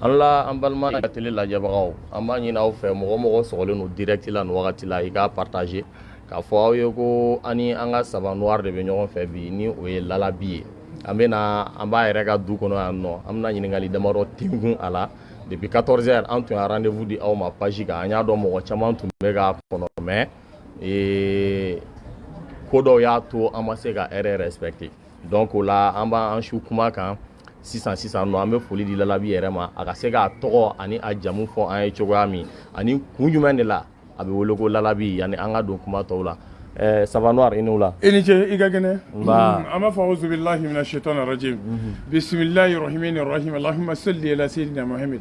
an la an balima tele lajɛbagaw an b'a ɲini aw fɛ mɔgɔ o mɔgɔ sɔgɔlen don direct la nin wagati la i k'a partager k'a fɔ aw ye ko an ni an ka saba noir de bɛ ɲɔgɔn fɛ bi ni o ye lalabi ye an bɛna an b'a yɛrɛ ka du kɔnɔ yan nɔ an bɛna ɲininkali damadɔ tingun a la depuis 14 heures an tun ye rendez-vous di aw ma page kan an y'a dɔn mɔgɔ caman tun bɛ k'a kɔnɔ mais ee, ko dɔw y'a to an ma se ka heure respecter donc o la an b'an su kuma kan sisan sisan nɔ an bɛ foli di lalabi yɛrɛ ma a ka se k'a tɔgɔ ani a jamu fɔ an ye cogoya min ani kun jumɛn de la a bɛ wele ko lalabi yanni an ka don kuma tɔw la eh, saba noir i ni wula i ni ce i ka kɛnɛ nba mm, an b'a fɔ auzubillahi mina shaitan rajim bisimilahi rahmani rahim allahumma salli ala sayyidina muhammad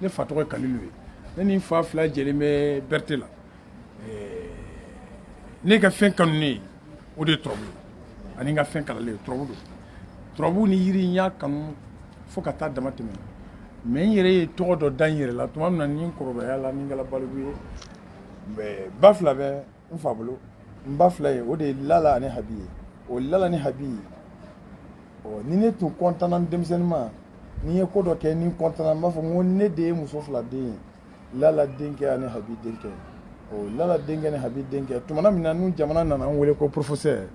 ne fa tɔgɔ ye kalilu ye ne ni n fa fila jɛlen bɛ berete la ne ka fɛn kanunen o de ye turabu ye ani n ka fɛn kalanlen turabu don turabu ni yiri n y'a kanu fo ka taa dama tɛmɛ mais n yɛrɛ ye tɔgɔ dɔ da n yɛrɛ la tuma min na ni n kɔrɔbayala ni n kɛla baliku ye ba fila bɛ n fa bolo n ba fila ye o de ye lala ani habi ye o lala ni habi ye ɔ ni ne tun kɔntanna n denmisɛnnin ma ni n ye ko dɔ kɛ ni n kɔntanna n b'a fɔ n ko ne de ye muso fila den ye lala denkɛ ani habi denkɛ o lala denkɛ ni habi denkɛ tumana min na ni jamana nana n wele ko professeur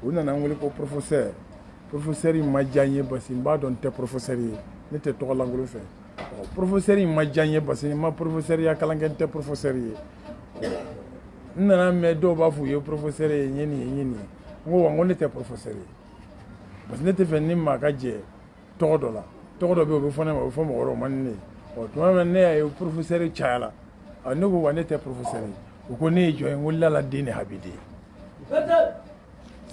u nana n wele ko professeur professeur ma diya n ye parce que n b'a dɔn n tɛ professeur ye ne tɛ tɔgɔ lankolon fɛ professeur in ma diya n ye parce que n ma professeurya kalan kɛ n tɛ professeur ye n nana mɛn dɔw b'a fɔ u ye professeur ye n ye nin ye n ye nin ye n ko wa n ko ne tɛ professeur ye parce que ne tɛ fɛ ni maa ka jɛ tɔgɔ dɔ la tɔgɔ dɔ bɛ yen o bɛ fɔ ne ma o bɛ fɔ mɔgɔ wɛrɛw ma ni ne ye ɔ tuma min na ne y'a ye professeur cayala ne ko wa ne tɛ professeur ye u ko ne ye jɔn ye n ko lala den ni habi den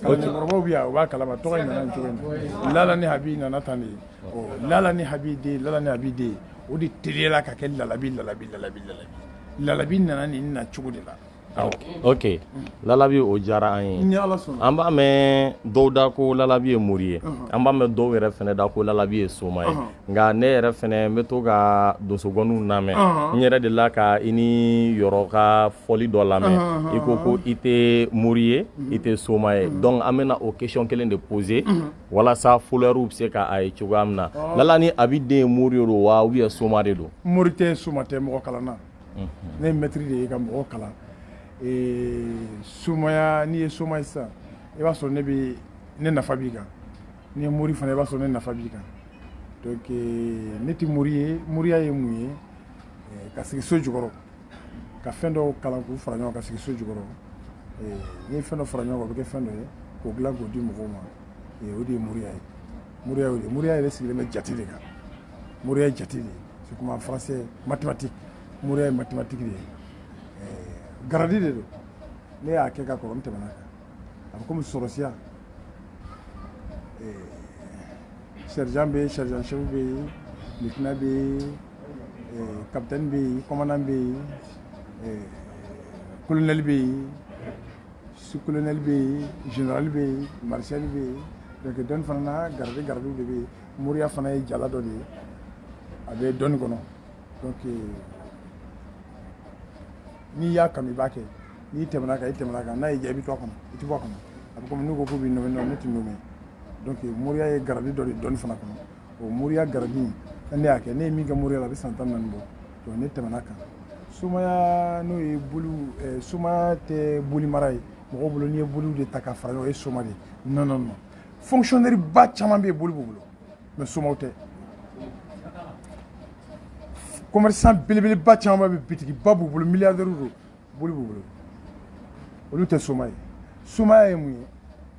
mɔgɔkɔrɔbaw bɛ yan u b'a kalama tɔgɔ in nana cogo min lala ni habi nana tan de ye lala ni habi den lala ni habi den o de teliyala ka kɛ lalabi lalabi lalabi lalabi lalabi nana nin na cogo de la awɔ ok lalabi o diyara an ye an b'a mɛn dɔw da ko lalabi ye mori ye an b'a mɛn dɔw yɛrɛ fɛnɛ da ko lalabi ye soma ye nka ne yɛrɛ fɛnɛ n bɛ to ka donsongɔniw lamɛn n yɛrɛ dela ka i ni yɔrɔ ka fɔli dɔ lamɛn i ko ko i tɛ mori ye i tɛ soma ye donc an bɛna o question kelen de poser walasa followers bɛ se k'a ye cogoya min na lala ni habi den ye mori ye don wa ou bien soma de don mori tɛ soma tɛ mɔgɔkalanna ne ye maître de ye ka mɔgɔ kalan somaya n'i ye soma ye sisan i b'a sɔrɔ ne bɛ ne nafa b'i kan n'i ye mori fana i b'a sɔrɔ ne nafa b'i kan donc euh, ne tɛ mori ye moriya ye mun ye euh, ka sigi so jukɔrɔ ka fɛn dɔw kalan k'u fara ɲɔgɔn kan ka sigi so jukɔrɔ euh, n'i ye fɛn dɔ fara ɲɔgɔn kan o bɛ kɛ fɛn dɔ ye k'o dilan k'o di mɔgɔw ma o de ye moriya ye moriya y'o de moriya yɛrɛ sigilen bɛ jate de kan moriya ye jate de ye c'est comme en français mathématique moriya ye mathématique de ye garadi de don ne y'a kɛ ka kɔrɔ n tɛmɛna kan a bɛ komi sɔrɔsiya sergent bɛ yen sergent chef bɛ yen lieutenant bɛ yen capitaine bɛ yen commandant bɛ yen colonel bɛ yen sous-colonel bɛ yen général bɛ yen maréchal bɛ yen donc dɔnni fana na garadi garadiw de bɛ yen moriya fana ye jala dɔ de ye a bɛ dɔnni kɔnɔ donc n'i y'a kanu i b'a kɛ n'i tɛmɛna kan i tɛmɛna kan n'a y'i diya i bɛ to a kɔnɔ i tɛ bɔ a kɔnɔ a bɛ komi n'u ko k'u b'i nommer nommer ne tɛ nommer donc moriya ye garadi dɔ de dɔnni fana kɔnɔ o moriya garadi in ne y'a kɛ ne ye min kɛ moriya la a bɛ san tan ni naani bɔ donc ne tɛmɛna kan somaya n'o ye boli eh, somaya tɛ boli mara ye mɔgɔ bolo n'i ye boliw de ta ka fara ɲɔgɔn o ye soma de ye non non non fonctionnaire ba caman bɛ yen boli b'u bolo mais somaw tɛ commerçant belebeleba caman bɛ bitigiba b'u bolo milliardaires don boli b'u bolo olu tɛ soma ye somaya ye mun ye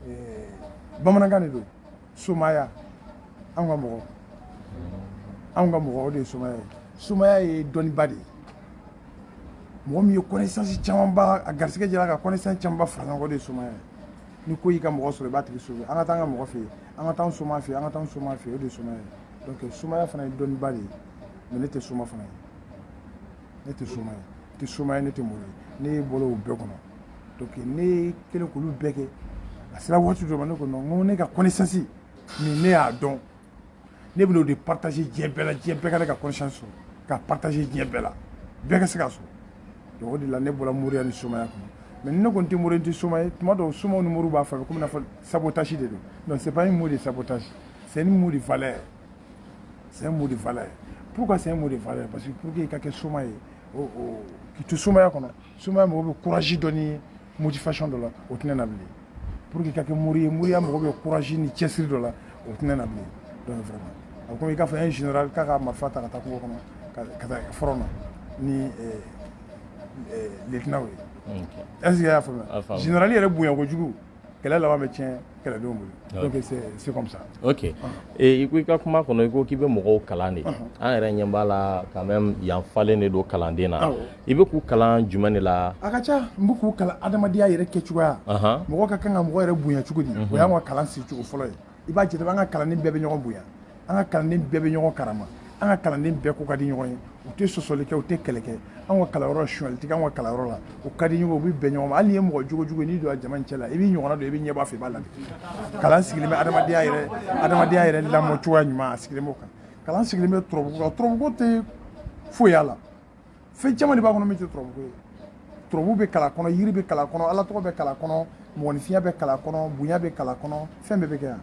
eh, bamanankan de don somaya anw ka mɔgɔ anw ka mɔgɔ o de ye somaya ye somaya ye dɔnniba de ye mɔgɔ min ye connaissance camanba a garisigɛ jɛra ka connaissance camanba fara ɲɔgɔn kan o de ye somaya ye ni ko y'i ka mɔgɔ sɔrɔ i b'a tigi sauver an ka taa an ka mɔgɔ fɛ yen an ka taa soma fɛ an ka taa soma fɛ o de ye soma ye donc somaya fana ye dɔnniba de ye mais ne tɛ soma fana ye ne tɛ soma ye tɛ soma ye ne tɛ mori ye ne bɔra o bɛɛ kɔnɔ donc ne kɛlen k'olu bɛɛ kɛ a sera waati dɔ ma ne ko non n ko ne ka connaissance nin ne y'a dɔn ne bɛna o de partager diɲɛ bɛɛ la diɲɛ bɛɛ ka ne ka connaissance sɔrɔ k'a partager diɲɛ bɛɛ la bɛɛ ka se k'a sɔrɔ donc o de la ne bɔra moriya ni somaya kɔnɔ mais ni ne ko n tɛ mori n tɛ soma ye tuma dɔw somaw ni moriw b'a fɔ a bɛ komi i n'a fɔ sabotage de don non c'est pas un mot de sabotage c'est un mot de valeur c'est un mot de valeur pourquoi c'est un mot de valeur parce que pour que i ka kɛ soma ye k'i to somaya kɔnɔ somaya mago bɛ courage dɔ ni motivation dɔ la o tɛ ne na bilen pour que i ka kɛ mori ye moriya mago bɛ courage ni cɛsiri dɔ la o tɛ ne na bilen donc vraiment a bɛ komi i k'a fɔ un général k'a ka marifa ta ka taa kungo kɔnɔ ka taa front na ni eh, eh, lieutenant ye est ce que i y'a faamuya général yɛrɛ bonya kojugu kɛlɛ laban bɛ tiɲɛ kɛlɛdenw bolo ah donc c'est comme ça ok et ah. eh, i ko i ka kuma kɔnɔ i ko k'i bɛ mɔgɔw kalan de ah an yɛrɛ ɲɛ b'a la quand même yan falen de don kalanden na i bɛ k'u kalan jumɛn de la a ka ca n bɛ k'u kalan adamadenya yɛrɛ kɛcogoya mɔgɔ ka kan ka mɔgɔ yɛrɛ bonya cogo di o y'an ka kalan sigicogo fɔlɔ ye i b'a jate an ka kalanden bɛɛ bɛ ɲɔgɔn bonya an ka kalanden bɛɛ bɛ ɲɔgɔn karama an ka kalanden bɛɛ ko ka di ɲɔgɔn ye u tɛ sɔsɔli kɛ u tɛ kɛlɛ kɛ an ka kalanyɔrɔ sonyali tɛ an ka kalanyɔrɔ la u ka di ɲɔgɔn u bɛ bɛn ɲɔgɔn ma hali n'i ye mɔgɔ jogo jugu ye n'i donna jama in cɛ la i b'i ɲɔgɔnna dɔ i bɛ ɲɛbɔ a fɛ i b'a lamɛn kalan sigilen bɛ adamadenya yɛrɛ adamadenya yɛrɛ lamɔ cogoya ɲuman a sigilen b'o kan kalan sigilen bɛ turabuko kan turabuko tɛ foyi y'a la fɛn caman de b'a kɔnɔ min tɛ turabuko ye turabu bɛ kalan kɔnɔ yiri bɛ kalan kɔnɔ ala tɔgɔ bɛ kalan kɔnɔ mɔgɔninfinya bɛ kalan kɔnɔ bonya bɛ kalan kɔnɔ fɛn bɛɛ bɛ kɛ yan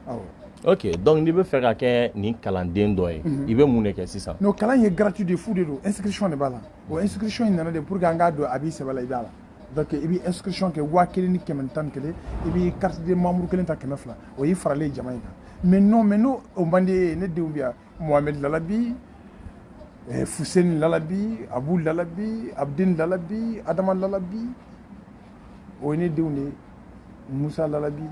awɔ ok donc n'i bɛ fɛ ka kɛ nin kalanden dɔ ye mhm. i bɛ mun de kɛ sisan non kalan ye gratuit de fu de don inscription de b'a la o inscription in nana de pour que an k'a dɔn a b'i sɛbɛ la i b'a la donc i bɛ inscription kɛ waa kelen ni kɛmɛ ni tan ni kelen i bɛ carte de membre kelen ta kɛmɛ fila o y'i faralen jama in kan mais non mais n'o o man di e ye ne denw bɛ yan Mohamed Lalabi, eh, Fousseni Lalabi, Abou Lalabi, Abdin Lalabi, Adama Lalabi, o ye ne denw de ye Musa Lalabi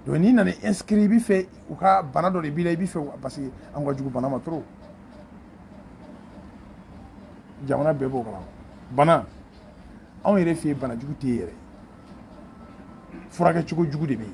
donc n'i nana inscrit i bɛ fɛ u ka bana dɔ de b'i la i bɛ fɛ parce que an ka jugu bana ma trop jamana bɛɛ b'o kalama bana anw yɛrɛ fɛ yen bana jugu tɛ yen yɛrɛ furakɛ cogo jugu de bɛ yen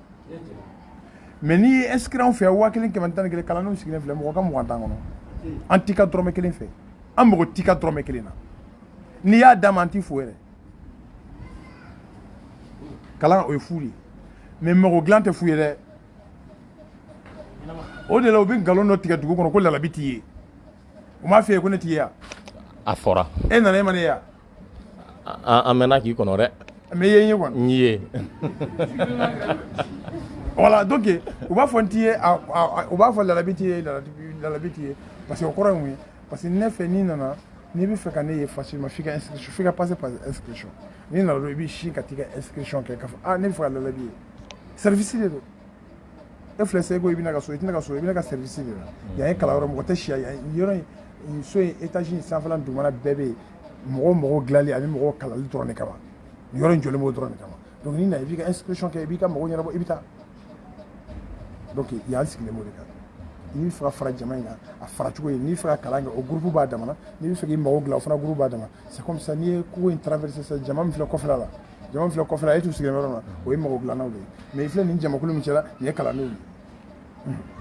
mais n'i ye inscrit anw fɛ yan waa kelen kɛmɛ tan kelen kalandenw sigilen filɛ mɔgɔ ka mugan t'an kɔnɔ an t'i ka dɔrɔmɛ kelen fɛ an mago t'i ka dɔrɔmɛ kelen na n'i y'a d'an ma an t'i fo yɛrɛ kalan o ye fu de mais mago dilan tɛ fu ye dɛ o de la u bɛ nkalon dɔ tigɛ dugu kɔnɔ ko Lalabi t'i ye u m'a f'i ye ko ne t'i ye wa a fɔra e nana e ma ne ye wa an an mɛnna k'i kɔnɔ dɛ mais i ye n ye kɔni n y'i ye voilà donc u b'a fɔ n t'i ye a- a- a- u b'a fɔ lalabi t'i ye lalabi lalabi t'i ye parce que o kɔrɔ ye mun ye parce que ne fɛ n'i nana n'i bɛ fɛ ka ne ye facilement f'i ka inscription f'i ka passer par inscription n'i nana dɔrɔn i b'i sin ka t'i ka inscription kɛ k'a fɔ ah ne bɛ fɛ ka lalabi ye service de don e filɛ seko i bɛ na n ka so i tɛ na n ka so i bɛ na n ka service de la mm. yan ye kalanyɔrɔ mɔgɔ tɛ si yan yɔrɔ in so in étage in sanfɛla dugumana bɛɛ bɛ yen mɔgɔ mago dilanli ani mɔgɔ kalanni dɔrɔn de kama yɔrɔ in jɔlen b'o dɔrɔn de kama donc n'i nana i b'i ka inscription kɛ i b'i ka mago ɲɛnabɔ i bɛ taa donc yan sigilen b'o de kan n'i bɛ fɛ ka fara jama in kan a fara cogo ye n'i bɛ fɛ ka kalan kɛ o gurupu b'a damana n'i bɛ fɛ k'i mago dilan o fana gurupu b'a dama c'est comme ça n'i ye kogo in traverser sisan jama min filɛ kɔfɛla la Jama min filɛ kɔfɛla la e tun sigilen yɔrɔ la o ye mɔgɔ bilalaw de ye mɛ i filɛ nin jamakulu min cɛla nin ye kalandenw ye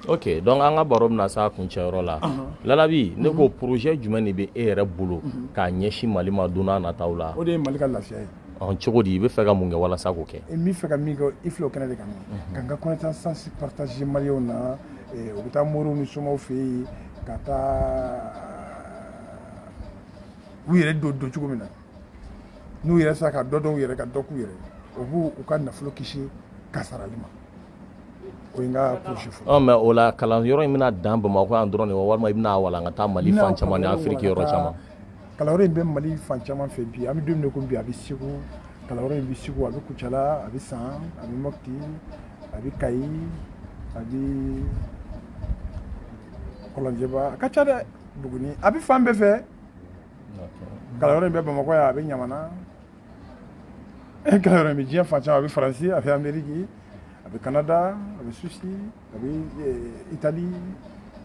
oke dɔnku an ka baro bɛna se a kuncɛyɔrɔ la lalabi ne ko porozɛ jumɛn de bɛ e yɛrɛ bolo k'a ɲɛsin mali ma don nataw la o de ye mali ka lafiya ye cogo di i bɛ fɛ ka mun kɛ walasa k'o kɛ n bɛ fɛ ka min kɛ i filɛ o kɛnɛ de kan ka n ka connaissance partager maliyɛnw na u bɛ taa moriw ni somaw fɛ yen ka taa u yɛrɛ don don cogo min na n'u yɛrɛ sera ka dɔ dɔn u yɛrɛ ka dɔ k'u yɛrɛ o b'u ka nafolo kisi kasarali ma o ye n ka kurusi fɔ. Ɔ mais o la kalanyɔrɔ in bɛna dan Bamakɔ yan dɔrɔn de wa walima i bɛna walankata Mali fan caman ni Afiriki yɔrɔ caman. Kalanyɔrɔ in bɛ Mali fan caman fɛ bi an bɛ don min na komi bi a bɛ Segu kalanyɔrɔ in bɛ Segu a bɛ Kucala a bɛ San a bɛ Mɔpti a bɛ Kayi a bɛ Kɔlɔnjɛba a ka ca dɛ Buguni a bɛ fan bɛɛ fɛ. kalanyɔrɔ in bɛ bamakɔ yan a bɛ ɲamana kalanyɔrɔ in bɛ diɲɛ fan caman a bɛ faransi a bɛ ameriki a bɛ kanada a bɛ suwisi a bɛ itali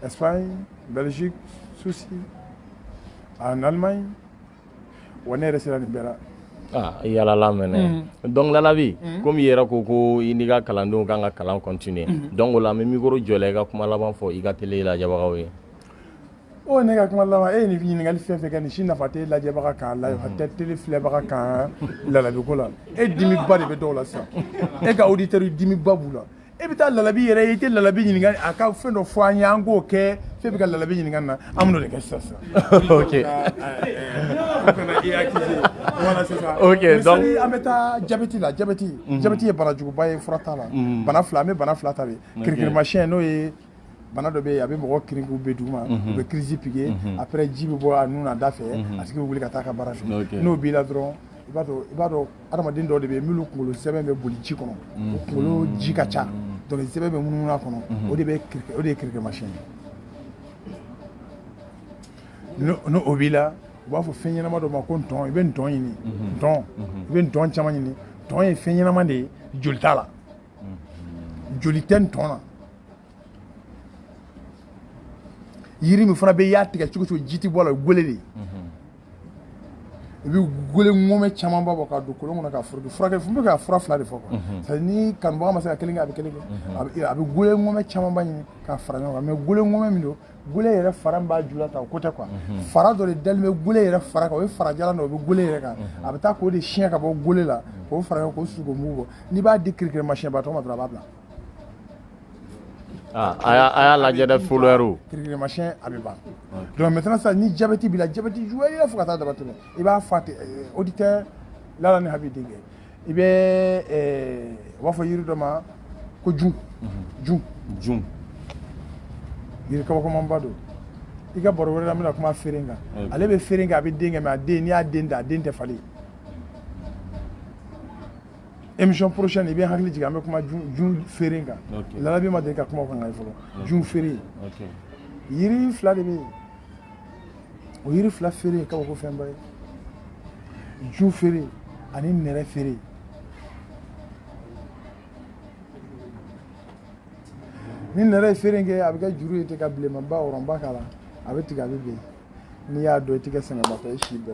espagne belgique suisse en allemagne wa ne yɛrɛ sera nin bɛɛ la ah, i yaalala mɛnɛ mm. donc lalabi mm. komi i yɛrɛ ko ko i n'i ka kalandenw k'an ka kalan continuer mm. donc o la an bɛ mikoro jɔ i la i ka kuma laban fɔ i ka tele lajɛbagaw ye ne ka kuma laban e ye nin ɲininkali fɛn fɛn kɛ nin si nafa tɛ lajɛbaga kan nafa tɛ tele filɛbaga kan lalabi ko la e dimiba de bɛ dɔw la sisan e ka auditeur dimiba b'u la e bɛ taa lalabi yɛrɛ i tɛ lalabi ɲininka a ka fɛn dɔ fɔ an ye an k'o kɛ f'e bɛ ka lalabi ɲininka na an bɛn'o de kɛ sisan sisan an bɛ taa jabɛti la jabɛti jabɛti ye banajuguba ye fura t'a la bana fila an bɛ bana fila ta kirikirimasiyɛn n'o ye bana dɔ bɛ yen a bɛ mɔgɔ kirin k'u bɛ duguma u bɛ kirisi pike après ji bɛ bɔ a nun n'a da fɛ a tigi bɛ wuli ka taa a ka baara fɛ n'o b'i la dɔrɔn i b'a dɔn i b'a dɔn adamaden dɔw de bɛ yen minnu kunkolo sɛmɛ bɛ boli ji kɔnɔ o kunkolo ji ka ca donc sɛmɛ bɛ munumunu a kɔnɔ o de bɛ kiriki o de ye kirikirimasiyɛn ye n'o n'o o b'i la u b'a fɔ fɛn ɲɛnama dɔ ma ko ntɔn i bɛ ntɔn ɲini ntɔn i bɛ ntɔn caman ɲini ntɔn ye fɛn ɲɛnama de ye joli t'a la joli tɛ ntɔn na yiri min fana bɛ i y'a tigɛ cogo cogo ji tɛ bɔ a la o ye gele de ye i bɛ gele ŋɔmɛ camanba bɔ k'a don kolon kɔnɔ ka furakɛ furakɛ n bɛ ka fura fila de fɔ quoi c'est à dire ni kanubaga ma se ka kelen kɛ a bɛ kelen kɛ a bɛ a bɛ gele ŋɔmɛ camanba ɲini k'a fara ɲɔgɔn kan mais gele ŋɔmɛ min don gele yɛrɛ fara b'a ju la ta o ko tɛ quoi mhm. fara dɔ de dalen bɛ gele yɛrɛ fara kan o ye fara jalan o bɛ gele yɛrɛ kan mhm. a bɛ taa k'o de siɲɛ ka bɔ gele la mhm. k'o fara k'o susu k'o mugu bɔ n'i b'a di kirikiri masiyɛnbatɔ ma dɔrɔn a b'a bila ah, a y'a lajɛ dɛ folɛriw kirikiri masiyɛn a bɛ ban donc maintenant sisan ni jabɛti b'i la jabɛti juguya fo ka taa damatɛmɛ i b'a fɔ a tɛ eh, auditeur lala ni habi denkɛ i bɛ u b'a fɔ yiri dɔ ma ko jun jun jun yiri kabakomanba don i ka baro wɛrɛ la n bɛna kuma feere kan ale bɛ feere kɛ a bɛ den kɛ mais a den n'i y'a den dan a den tɛ falen émission prochaine i bɛ hakili jigin an bɛ kuma jun feere kan lalabi ma deli ka kuma o kan fɔlɔ jun feere yiri fila de bɛ yen o yiri fila feere ye kabako fɛnba ye jun feere ani nɛrɛ feere ni nɛrɛ ye feere kɛ a bɛ kɛ juru ye ten ka bilenmanba rondba k'a la a bɛ tigɛ a bɛ ben n'i y'a dɔn i tɛ kɛ sɛgɛnbatɔ ye si bɛɛ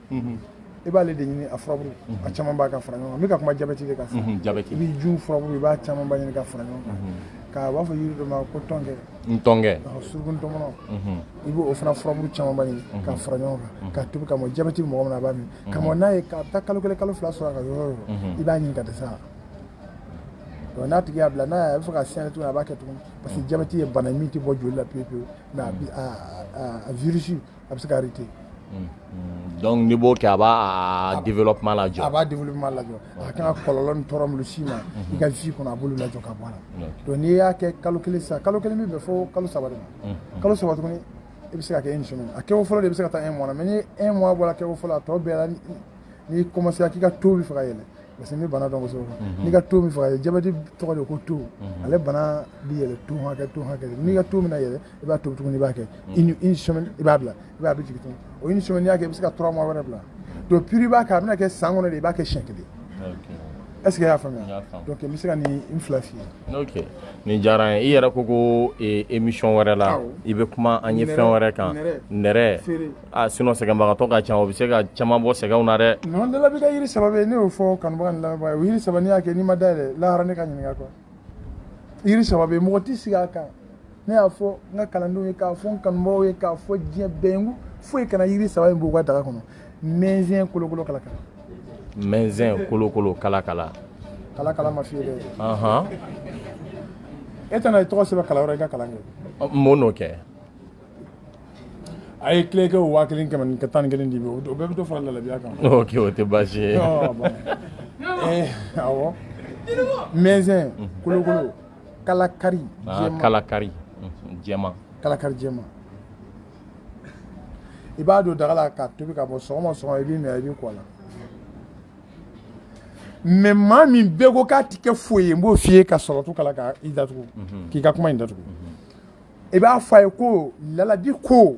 mhm. i b'ale de ɲini a furaburu mhm. a caman b'a ka fara ɲɔgɔn kan n bɛ ka kuma jabɛti de kan sisan mhm, i bɛ jun furaburu i b'a caman ba ɲini ka fara ɲɔgɔn kan k'a b'a fɔ yiri dɔ ma ko tɔnkɛ ntɔnkɛ suruku ntɔmɔnɔ i b'o fana furaburu caman ba ɲini ka fara ɲɔgɔn kan ka tobi ka mɔ jabɛti mɔgɔ min na a b'a min ka mɔ n'a ye k'a taa kalo kelen kalo fila sɔrɔ a ka yɔrɔ yɔrɔ i b'a ɲini ka dɛsɛ a donc n'a tigi y'a bila n'a y'a bɛ fɛ ka segin tuguni a b'a kɛ tuguni parce que jabɛti ye bana ye min tɛ bɔ joli la pewu pewu mais a virus a bɛ se ka arrêter donc n'i b'o kɛ a b'a a développement lajɔ, a b'a développement lajɔ a kan ka kɔlɔlɔ ni tɔɔrɔ minnu s'i ma i ka vie kɔnɔ a b'olu lajɔ ka bɔ a la donc n'i y'a kɛ kalo kelen sisan kalo kelen bɛ bɛn fo kalo saba de ma kalo saba tuguni i bɛ se ka kɛ une semaine a kɛko fɔlɔ de bɛ se ka taa un mois la mais ni un mois bɔra kɛko fɔlɔ la a tɔ bɛɛ la n'i commencera k'i ka taux bɛ fɛ ka yɛlɛ parce que n bɛ bana dɔn kosɛbɛ mhm. n'i ka taux bɛ fɛ ka yɛlɛ jabɛti tɔgɔ de ko taux mhm. ale bana bɛ yɛlɛ taux hakɛ taux hakɛ n'i ka taux bɛna yɛlɛ i b'a tobi tuguni i b'a kɛ une semaine i b'a bila i b'a bɛ jigin tuguni o une semaine n'i y'a kɛ i bɛ se ka trois mois wɛrɛ bila donc puis i b'a kɛ a bɛna kɛ san kɔnɔ de i b'a kɛ siɲɛ kelen est-ce que i y'a faamuya donc n bɛ se ka nin n fila f'i ye ok nin diyara n ye i yɛrɛ ko ko émission wɛrɛ la i bɛ kuma an ye fɛn wɛrɛ kan nɛrɛ a sinon sɛgɛnbagatɔ ka ca o bɛ se ka caman bɔ sɛgɛnw na dɛ non dala bɛ kɛ yiri saba bɛ yen ne y'o fɔ kanubaga ni lamɛnbaga ye o yiri saba n'i y'a kɛ n'i ma dayɛlɛ lahara ne ka ɲininka quoi yiri saba bɛ yen mɔgɔ tɛ siga a kan ne y'a fɔ n ka kalandenw ye k'a fɔ n kanubaaw ye k'a fɔ diɲɛ bɛɛ ye ko foyi kana yiri saba in b'u ka daga kɔnɔ mɛnzɛn kolokolo kalakala mɛnzɛn kolokolo kalakala kalakala ma f'i ye dɛ e tɛna i tɔgɔ sɛbɛn kalan wɛrɛ i ka kalan kɛ mun n'o kɛ a ye tile kɛ waa kelen kɛmɛ ni ka tan ni kelen di o bɛɛ bɛ dɔ fara lalabiya kan o tɛ baasi ye awɔ mɛnzɛn kolokolo kalakari kalakari jɛma kalakari jɛma i b'a don daga la ka tobi ka bɔ sɔgɔma sɔgɔma i b'i min i b'i ko a la mais maa min bɛɛ ko k'a tɛ kɛ foyi ye n b'o f'i ye ka sɔrɔ to kala ka i datugu k'i ka kuma in datugu i b'a fɔ a ye ko lalabi ko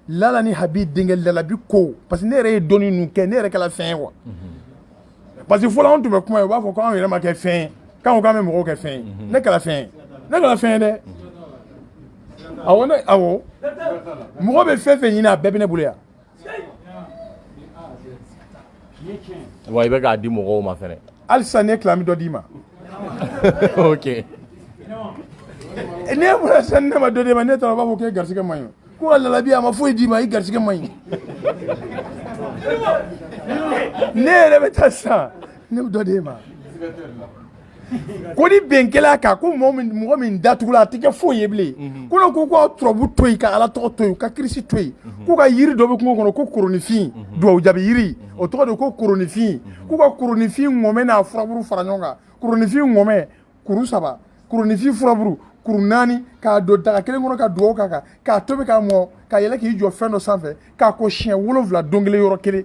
lala ni habi denkɛ lalabi ko parce que ne yɛrɛ ye dɔnni ninnu kɛ ne yɛrɛ kɛla fɛn ye wa parce que fɔlɔ anw tun bɛ kuma ye u b'a fɔ ko anw yɛrɛ ma kɛ fɛn ye k'an ko k'an bɛ mɔgɔw kɛ fɛn ye ne kɛla fɛn ye ne kɛla fɛn ye dɛ awɔ ne awɔ mɔgɔ bɛ fɛn fɛn ɲini a bɛɛ bɛ ne bolo yan wa i bɛ k'a di mɔgɔw ma fɛnɛ halisa ne tila n bɛ dɔ d'i ma ok ne bɔra sisan ne ma dɔ d'i ma ne taara u b'a fɔ k'e garisigɛ man ɲi ko ka lalabi a ma foyi d'i ma i garisigɛ man ɲi ne yɛrɛ bɛ taa sisan ne bɛ dɔ d'e ma ko ni bɛn kɛla a kan ko mɔgɔ min datugula a tɛ kɛ foyi ye bilen mhm. ko ne ko ka turabu to yen ka ala tɔgɔ to yen ka kirisi to yen mhm. ko ka yiri dɔ bɛ kungo kɔnɔ ko koronifin mhm. duwawu jaabi yiri o tɔgɔ de ko koronifin k'u ka koronifin ŋɔmɛ n'a furaburu fara ɲɔgɔn kan koronifin ŋɔmɛ kuru saba koronifin furaburu kuru naani k'a don daga kelen kɔnɔ ka duwawu k'a kan k'a tobi k'a mɔ ka yɛlɛ k'i jɔ fɛn dɔ sanfɛ k'a ko siɲɛ wolonwula don kelen yɔrɔ kelen